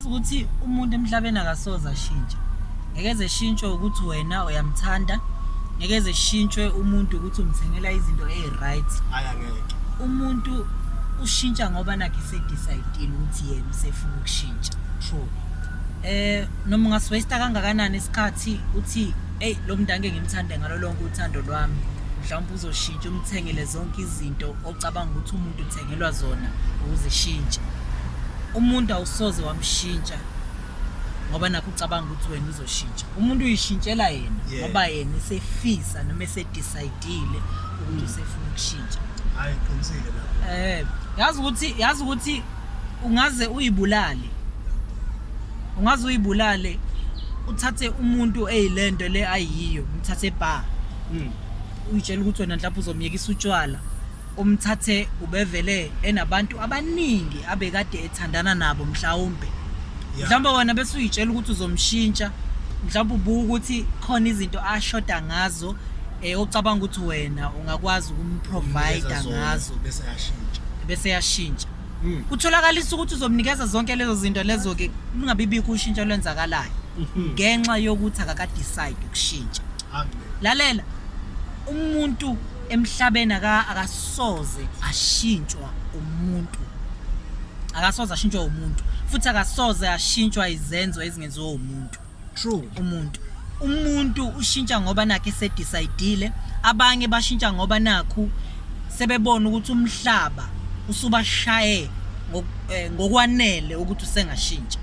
ukuthi umuntu emhlabeni akasoze ashintshe ngeke zeshintshwe ukuthi wena uyamthanda ngeke zeshintshwe umuntu ukuthi umthengela izinto eyi-right umuntu ushintsha ngoba nakhe sedecide-ile ukuthi yena usefuna ukushintsha true eh noma ungaswaste kangakanani isikhathi uthi hey lo mntu angeke ngimthande ngalo lonke uthando lwami mhlawumbe uzoshintsha umthengele zonke izinto Ucabanga ukuthi umuntu uthengelwa zona ukuzishintsha. Umuntu awusoze wamshintsha ngoba nakho ucabanga ukuthi wena uzoshintsha. Umuntu uyishintshela yena Yeah. ngoba yena esefisa noma esedecide-ile ukuthi usefuna ukushintsha. Hayi qinisile lapho. Eh, yazi ukuthi yazi ukuthi ungaze uyibulale. Ungaze uyibulale uthathe umuntu eyilento le ayiyo, uthathe bar. Mm. uyitshela ukuthi wena mhlawumbe uzomyekisa utshwala umthathe ubevele enabantu abaningi abekade ethandana nabo mhlawumbe mhlawumbe wena bese uyitshela ukuthi uzomshintsha mhlawumbe ubuka ukuthi khona izinto ashoda ngazo um ocabanga ukuthi wena ungakwazi ukumprovida ngazo bese yashintsha hmm. kutholakalisa ukuthi uzomnikeza zonke lezo zinto lezo-ke lungabibikho ushintsho olwenzakalayo hmm. ngenxa yokuthi akakadecide ukushintsha lalela umuntu emhlabeni aka akasoze ashintshwa umuntu akasoze ashintshwa umuntu futhi akasoze ashintshwa izenzo ezingenziwa umuntu true umuntu umuntu ushintsha ngoba nakhe sedecide abanye bashintsha ngoba nakhu sebebona ukuthi umhlaba usubashaye eh, ngokwanele ukuthi usengashintsha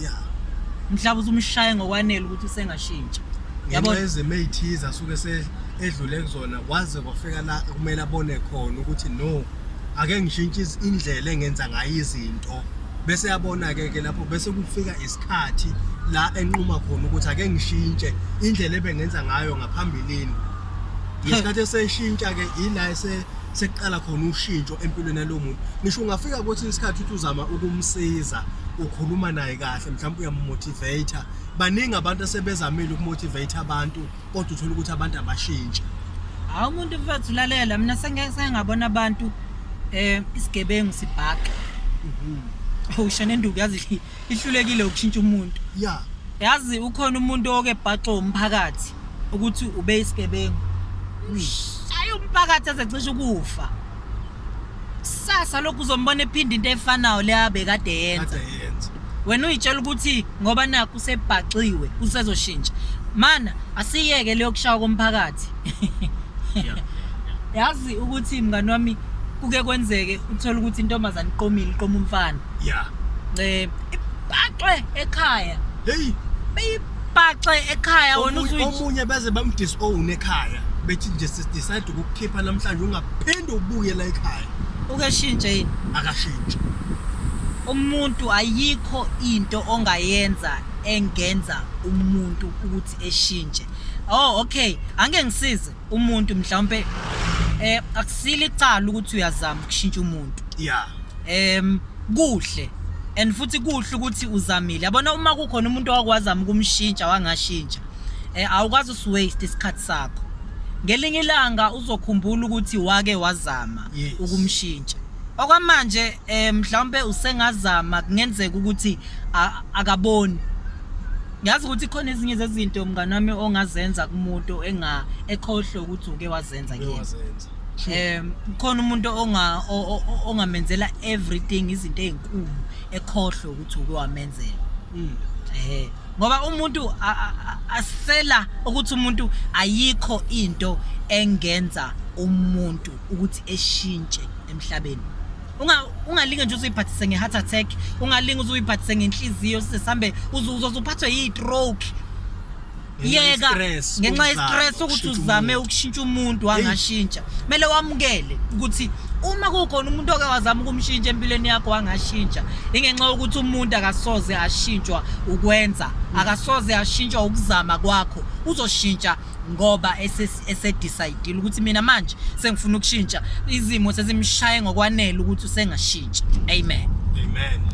ya mhlawumbe uzumshaye ngokwanele ukuthi usengashintsha yabo ezimo ezithize asuke edlule kuzona kwaze kwafika la kumele abone khona ukuthi no ake ngishintshe indlela engenza ngayo izinto bese yabona-ke ke lapho bese kufika isikhathi la enquma khona ukuthi ake ngishintshe indlela ebengenza ngayo ngaphambilini ngesikhathi eseshintsha-ke ila ese sekuqala khona ushintsho empilweni yalowo muntu ngisho ungafika kwesinye isikhathi uthi uzama ukumsiza ukhuluma naye kahle mhlawumbe uyamumotivate baningi abantu asebezamile ukumotivate abantu kodwa uthola ukuthi abantu abashintshe hawu umuntu mfethu ulalela mina sengengabona abantu um isigebengu sibhaqa mhm. awusho nenduku yazi ihlulekile ukushintsha umuntu ya yazi ukhona umuntu oke bhaxo umphakathi ukuthi ube isigebengu ayi umphakathi azecisha ukufa sasa lokhu uzombona ephinda into efanayo leyabe kade yenza wena uyitshela ukuthi ngoba nakho usebhaxiwe usezoshintsha mana asiyeke leyokushawa komphakathi yazi ukuthi mngani wami kuke kwenzeke uthole ukuthi intombazane iqomile iqoma umfana ya um ipaxwe ekhaya heyi beyipaxe ekhaya wona omunye beze bamdisowne ekhaya bethi nje sidecide ukukukhipha namhlanje ungaphinde ubuye la ekhaya ukeshintshe yini akashintshe umuntu ayikho into ongayenza engenza umuntu ukuthi eshintshe oh okay ange ngisize umuntu mhlawumbe eh akusile icala ukuthi uyazama ukushintsha umuntu yeah em kuhle and futhi kuhle ukuthi uzamile yabona uma kukhona umuntu owakwazi ukumshintsha wangashintsha eh awukwazi usiwaste isikhathi sakho ngelinye ilanga uzokhumbula ukuthi wake wazama yes. ukumshintsha okwamanje eh mhlawumbe usengazama kungenzeka ukuthi akaboni ngiyazi ukuthi khona ezinye zezinto mngani wami ongazenza kumuntu enga ekhohlwe ukuthi uke wazenza kuyena Uyawazenza. um khona umuntu onga- o- o- o- ongamenzela everything izinto ey'nkulu ekhohlwe ukuthi uke wamenzela Mm. ehe ngoba umuntu a- a- a- asela ukuthi umuntu ayikho into engenza umuntu ukuthi eshintshe emhlabeni unga ungalinge nje uzuyiphathise nge-heart attack ungalinge uzuyiphathise ngenhliziyo sisesambe uzuzo uzuphathwe yi-stroke yeka ngenxa yestress ukuthi uzame ukushintsha umuntu wangashintsha kumele wamukele ukuthi uma kukhona umuntu oke wazama ukumshintsha empilweni yakho wangashintsha ingenxa yokuthi umuntu akasoze ashintshwa ukwenza akasoze ashintshwa ukuzama kwakho uzoshintsha ngoba esedecide ukuthi mina manje sengifuna ukushintsha izimo sezimshaye ngokwanele ukuthi usengashintsha amen amen